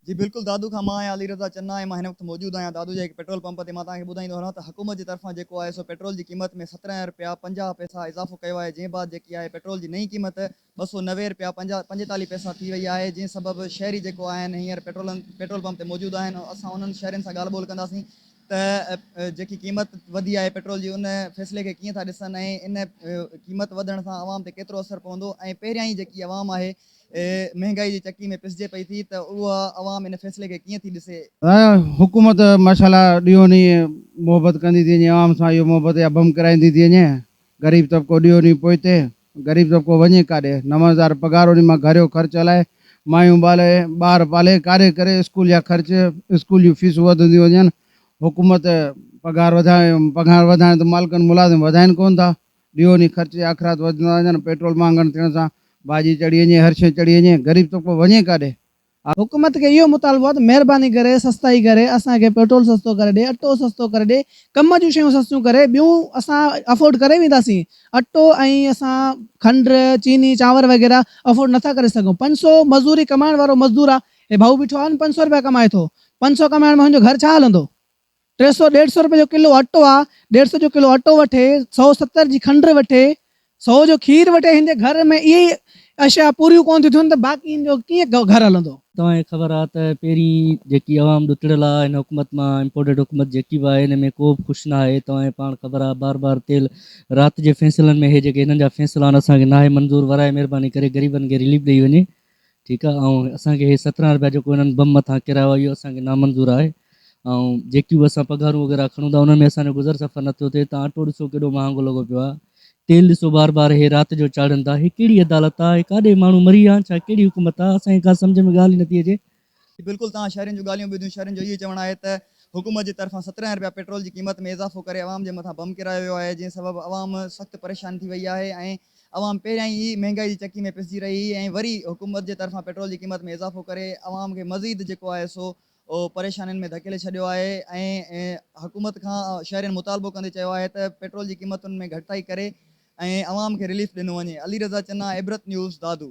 جي بلڪل دادو کان مان آهيان علي رضا چنا ۽ مان هن وقت موجود آهيان دادو جي هڪ پيٽرول پمپ تي مان توهان کي ٻڌائيندو هلان ته حڪومت جي طرفان جيڪو آهي سو پيٽرول جي قيمت ۾ سترنهن رپيا پنجاهه پئسا اضافو ڪيو آهي جنهن بعد جيڪي آهي پيٽرول جي نئين قيمت ٻه سؤ نوي رپيا پنجيتاليهه پئسا ٿي وئي آهي جنهن سبب شهري جيڪو آهن هينئر پيٽرولن پيٽرول پمپ تي موجود آهن اسان انهن شهرين سان ڳالهه ٻولهه ڪنداسين ته جيڪي قيمت وڌي آهي پيٽرول جي ان فيصلي کي ڪيئن ٿا ڏسن ۽ ان قيمت وڌڻ سان عوام تي ڪيترو اثر پوندو ۽ پهريائين جيڪي عوام آهي مهنگائي جي چڪي ۾ پسجي پئي ٿي ته اها عوام ان فيصلي کي ڪيئن ٿي ڏسي؟ حڪومت ماشاءالله ڏينهون ڏينهن محبت ڪندي ٿي وڃي عوام سان اهو محبت يا بم ڪرائيندي ٿي وڃي غريب طبقو ڏينهون ڏينهن پوئتي غريب طبقو وڃي ڪاڏي نو هزار پگهار انهي مان گهريو خرچ هلائي مايون ٻالي ٻار پالي ڪاڏي ڪري اسڪول جا خرچ اسڪول جون فيسون وڌنديون وڃن حڪومت پگهار وڌائي پگهار وڌائڻ ته مالڪن ملازم وڌائين ڪونه ٿا. ڏيئو ني خرچ جا اخراج وڌندا وڃن، پيٽرول مهانگڻ ٿيڻ سان ڀاڄي چڙهي وڃي، هر شيء چڙهي وڃي، غريب طبقو وڃي ڪاڏي؟ آء. حڪومت کي اهو مطالبو آهي ته مهرباني ڪري سستائي ڪري اسان کي پيٽرول سستو ڪري ڏي، اٽو سستو ڪري ڏي، ڪم جون شيون سستيون ڪري، ٻيون اسان افورڊ ڪري وينداسين، اٽو ۽ اسان کنڊ، چيني، چانور وغيره افورڊ نٿا ڪري سگهون، پنج سؤ مزوري ڪمائڻ وارو مزدور آ، هي ڀائو بيٺو آهي نه پنج سؤ رپيا ڪمائي ٿو، پنج سؤ ڪمائڻ مان هن جو گهر ڇا هلندو؟ ٽي سؤ ڏيڍ سؤ رپئي جو ڪلو اٽو آ ڏيڍ سؤ جو ڪلو اٽو وٺي سؤ ستر جي کنڊ وٺي سؤ جو کير وٺي هندي گهر ۾ اهي ئي اشيا پوريون ڪون ٿيون ٿين ته باقي هن جو ڪيئن گهر هلندو. توهان کي خبر آ ته پهرين جيڪي عوام ڏتڙيل آ هن حڪومت مان امپورٽيڊ حڪومت جيڪي به آهي هن ۾ ڪو به خوش ناهي توهان کي پاڻ خبر آ بار بار تيل رات جي فيصلن ۾ هي جيڪي هنن جا فيصلا آهن اسان کي ناهي منظور ورائي مهرباني ڪري غريبن کي رليف ڏئي وڃي ٺيڪ آهي ۽ اسان کي هي سترهن رپيا جيڪو هنن بم مٿان ڪرايو آهي اهو اسان کي نامنظور آهي ۽ جيڪيون به اسان پگهارون وغيره کڻون ٿا انهن ۾ اسان جو گذر سفر نه ٿيو ٿئي تان اٽو ڏسو ڪيڏو مهانگو لڳو پيو آهي تيل ڏسو بار بار هي رات جو چاڙهن ٿا هي ڪهڙي عدالت آهي هي ڪاڏي ماڻهو مري ويا آهن ڇا ڪهڙي حڪومت آهي اسان کي ڪا سمجهه ۾ ڳالهه ئي نه ٿي اچي بلڪل توهان شهرين جون ڳالهيون ٻڌيون شهرين جو اهوئي چوڻ آهي ته حڪومت جي طرفان سترهن رپيا پيٽرول جي قيمت ۾ اضافو ڪري عوام جي مٿان بم ڪيرايو ويو آهي جنهن سبب عوام سخت پريشان ٿي وئي آهي ۽ عوام پهريائين ئي مهنگائي جي چڪي ۾ پسجي رهي هئي ۽ وري حڪومت جي طرفان پيٽرول جي قيمت ۾ اضافو ڪري عوام کي مزيد جيڪو آهي سو پريشانين ۾ ڌڪيلي ڇڏيو آهي ۽ حڪومت کان شهرين مطالبو ڪندي چيو آهي ته پيٽرول جي قيمتن ۾ گهٽتائي ڪري ۽ عوام کي رليف ڏنو وڃي علي رضا چنا عبرت نيوز دادو.